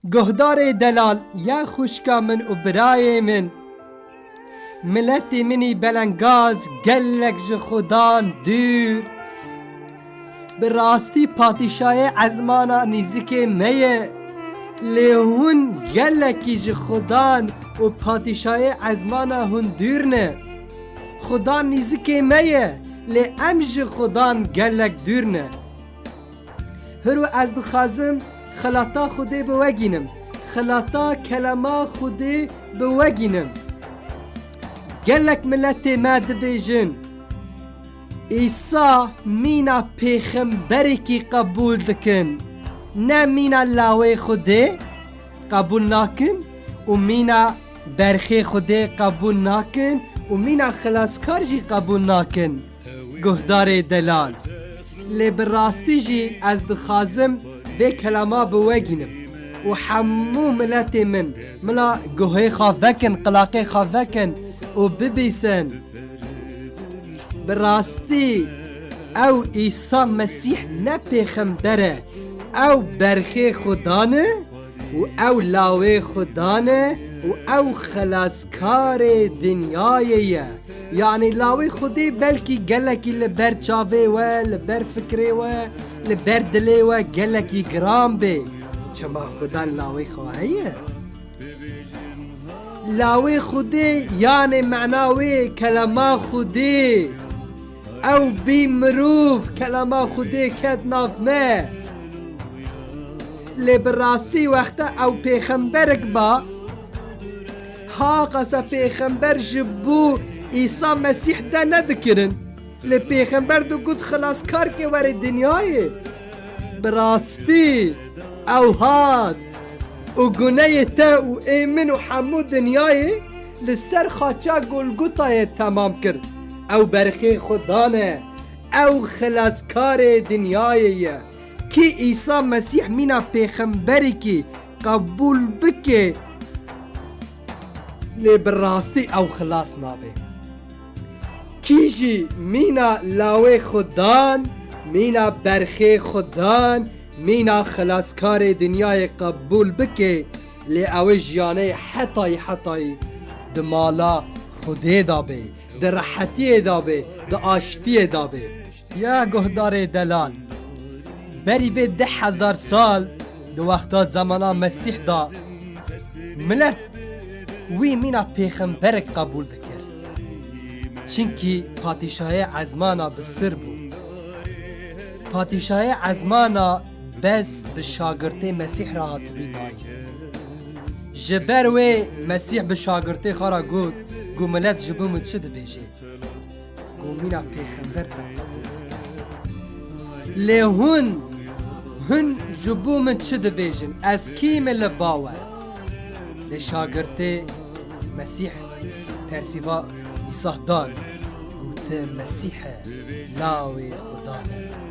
Guhdarê delal ya xwişka min û birayê min. Miletê minî belengaz gelek ji xudan dûr. Bi rastî patîşayê ezmana nîzikê me ye. Lê hûn gelekî ji xudan û patîşayê ezmana hûn dûr ne. Xudan nîzikê me ye lê em ji xudan gelek dûr ne. Hiro ez dixwazim xelata Xwedê bi we gînim. Xelata kelema Xwedê bi we gînim. Gelek miletê me dibêjin Îsa mîna pêxemberekî qebûl dikin. Ne mîna lawê Xwedê qebûl nakin û mîna berxê Xwedê qebûl nakin û mîna xilaskar jî qebûl nakin. Guhdarê delal. Lê bi rastî jî ez dixwazim vê kelama bi we gînim û hemû miletê min mila guhê xwe vekin, qilaqê xwe vekin û bibîsin. Bi rastî ew Îsa Mesîh ne pêxember e, ew berxê Xuda ne? Û ew lawê Xudan e û ew xelaskarê dinyayê ye. Yanî lawê Xwedê belkî gelekî li ber çavê we, li ber fikirê we, li ber dilê we gelekî giran bê. Çima Xudan lawê xwe heye? Lawê Xwedê yanê mena wê kelama Xwedê. Ew bî mirov kelama Xwedê ket nav me. Lê bi rastî wexta ew pêxemberek ba, ha qasa pêxember ji bo Îsa Mesîh de ne dikirin. Lê pêxember digot xilaskarkê were dinyayê. Bi rastî ew hat û guneyê te û ê min û hemû dinyayê li ser xaça Golgotayê temam kir. Ew berxê xwe dane. Ew Xilaskarê dinyayê ye. Kî Îsa Mesîh mîna pêxemberekî qebûl bike lê bi rastî ew xilas nabe. Kî jî mîna lawê xwe dan, mîna berxê xwe dan, mîna Xilaskarê dinyayê qebûl bike lê ew ê jiyanê hetayî hetayî di mala Xwedê de be. Di rehetiyê de be, di aştiyê de be. Ya guhdarê delal. Berî vê deh hezar sal di wexta zemana Mesîh de milet wî mîna pêxemberek qebûl dikir. Çinkî patîşahê ezmana bi sir bû. Patîşahê ezmana Bez bi şagirtê Mesîh re hatibû dayîn. Ji ber wê Mesîh bi şagirtê xwe re got ku milet ji bo min çi dibêje. Komîna pêxember Lê hûn, hûn ji bo min çi dibêjin? Ez kî me li ba we? Lê şagirtê Mesîh persîva Îsah dan, gotin Mesîh e, lawê Xuda e.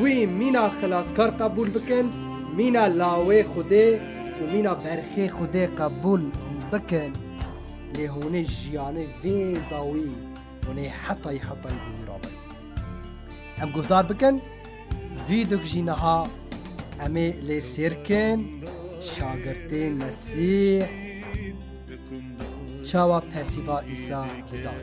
Wî mîna xilaskar qebûl bikin, mîna lawê Xwedê û mîna berxê Xwedê qebûl bikin. Lê hûnê jiyanê vê dawî hûnê hetayî hetayî bi wî ra bin. Em guhdar bikin, vî dûk jî niha em ê lê sêr kin, şagirtê Mesîh çawa Persîva Îsa didan.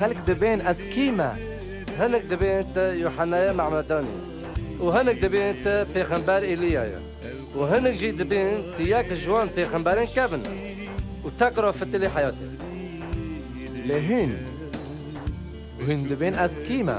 Xelk dibên ez kî me? Hinek dibên te Yuhennaya Mehmedan ye û hinek dibên te Pêxember Eliya ye û hinek jî dibên tu yek ji wan pêxemberan kevin e û teq ra fitilî heyat e. Lê hûn? Hûn dibên ez kî me?